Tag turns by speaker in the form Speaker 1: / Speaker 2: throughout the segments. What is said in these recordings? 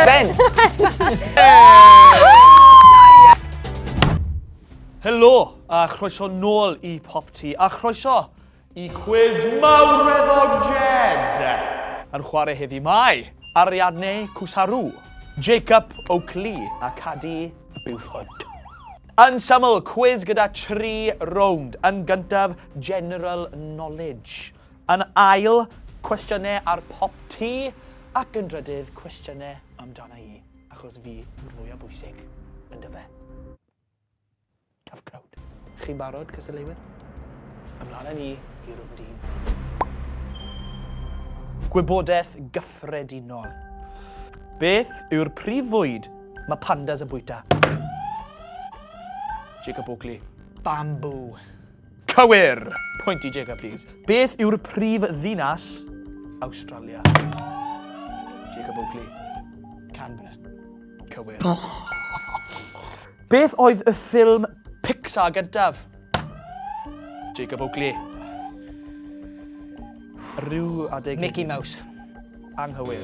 Speaker 1: Ben! Helo, a chroeso nôl i Pop Tea, a chroeso i cwiz mawreddog Jed. Yn chwarae heddi mae Ariadne Cwsaru, Jacob Oakley a Cadi Buford. Yn syml, cwiz gyda tri rownd. Yn gyntaf, general knowledge. Yn ail, cwestiynau ar pop ti, ac yn drydydd, cwestiynau amdana i, achos fi yw'r fwyaf bwysig, yn dyfe? Tough crowd. Chi'n barod, cystadleuwyr? Ymlaen â ni i rwnd un. Gwybodaeth gyffredinol. Beth yw'r prif fwyd mae pandas yn bwyta? Jacob Oakley. Bamboo.
Speaker 2: Cywir!
Speaker 1: Pwynt i Jacob, please. Beth yw'r prif ddinas Awstralia? Jacob Oakley. Canberra.
Speaker 2: Cywir.
Speaker 1: Beth oedd y ffilm Pixar gyntaf? Jacob Oakley. Rhyw adeg... Mickey Mouse.
Speaker 2: Anghywir.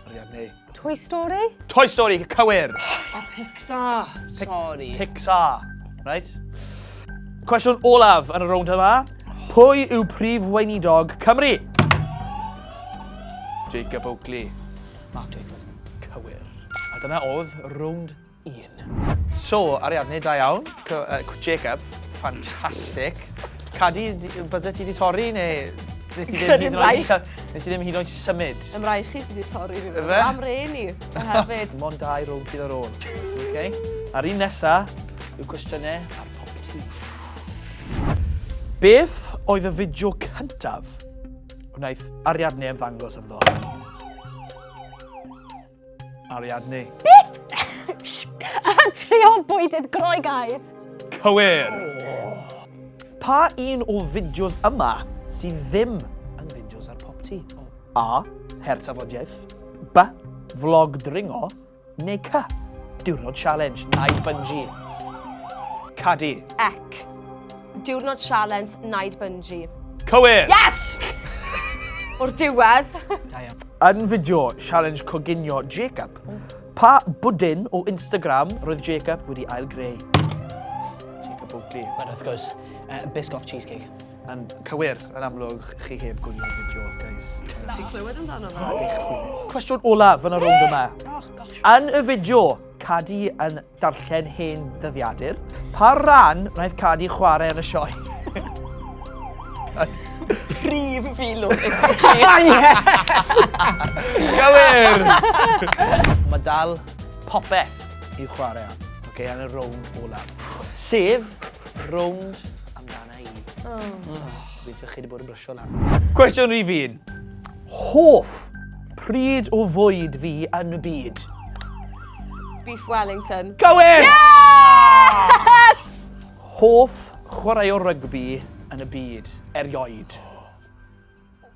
Speaker 1: Ariadne. Toy
Speaker 3: Story? Toy Story,
Speaker 1: cywir! A Pixar!
Speaker 2: Sorry. Pixar,
Speaker 1: right? Cwestiwn olaf yn y rownd yma. Pwy yw prif weinidog Cymru? Jacob Oakley. Mark Jacob.
Speaker 2: Cywir.
Speaker 1: A dyna oedd rownd un. So, Ariadne, da iawn. Jacob, ffantastig. Cadi, bydde ti wedi torri neu... Nes i ddim hyd yn oed, nes i ddim hyd yn oed symud. Ym rai chi sydd wedi
Speaker 3: torri fi. Fe? Am re ni, hefyd. Mon dau rownd sydd
Speaker 1: ar ôl. Okay. A'r un nesa yw cwestiynau ar pop ti. Beth oedd y fideo cyntaf wnaeth Ariadne ymddangos ynddo? Ariadne. Beth?
Speaker 3: A trio bwydydd Groegaidd. Cywir!
Speaker 1: Oh. Pa un o fideos yma sydd ddim yn fideos ar pop ti? Oh. A. Her tafodiaeth. B. Vlog dringo. Neu C. Diwrnod challenge. Nai bungee. Cadi. Ec.
Speaker 3: Diwrnod sialens Naid Bunji. Cywir! Yes! O'r diwedd. Yn
Speaker 2: fideo
Speaker 1: sialens coginio Jacob, pa bwdin o Instagram roedd Jacob wedi ail greu? Jacob Oakley. Mae'n wrth gwrs,
Speaker 2: uh, biscoff cheesecake. Yn cywir,
Speaker 1: yn amlwg, chi heb gwylio'r fideo, guys. Ti clywed amdano
Speaker 3: fe? Cwestiwn olaf
Speaker 1: yn y rownd yma. Oh, yn
Speaker 3: y fideo,
Speaker 1: Cadi yn darllen hen ddyddiadur. Pa ran wnaeth Cadi chwarae yn y sioe?
Speaker 3: Prif filwr i chi.
Speaker 1: Gywir! Mae dal popeth i'w chwarae am. Oce, okay, yn y rownd olaf. Sef, rownd amdano. Gobeithio chi wedi bod yn brysio lan. Cwestiwn rhif un. Hoff pryd o fwyd fi yn y byd?
Speaker 3: Beef Wellington. Cywir! Yes! Hoff
Speaker 1: chwarae o rygbi yn y byd, erioed?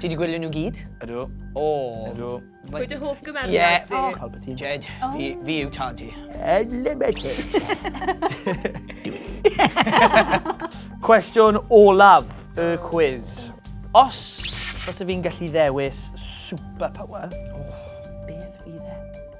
Speaker 2: Ti wedi gwylio nhw gyd? Ydw. O.
Speaker 1: Ydw.
Speaker 2: Pwy dy hoff
Speaker 3: gymerwr yeah. ti? Oh. Palpatine.
Speaker 2: Jed,
Speaker 3: oh.
Speaker 1: fi,
Speaker 2: fi yw tad i.
Speaker 1: Unlimited. Cwestiwn olaf y quiz. Os, os y fi'n gallu ddewis superpower, oh, beth fydd e?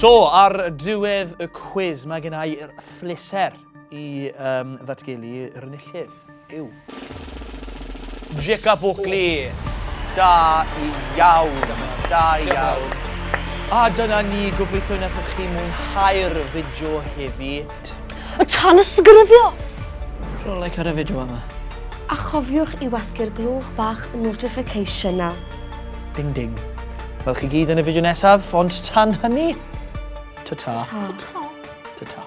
Speaker 1: so, ar diwedd y cwiz, mae gen i phleser i um, ddatgelu yr enillydd. Yw. Jacob Oakley. Da i iawn. Da i iawn. A dyna ni gobeithio wnaethoch chi mwynhau'r fideo heddi. Y
Speaker 3: tan
Speaker 2: ysgrifio! Rwy'n
Speaker 1: like ar
Speaker 2: y fideo yma. A
Speaker 3: chofiwch i wasgu'r glwch bach notification na. Ding ding.
Speaker 1: Wel chi gyd yn y fideo nesaf, ond tan hynny, ta-ta. Ta-ta. Ta-ta.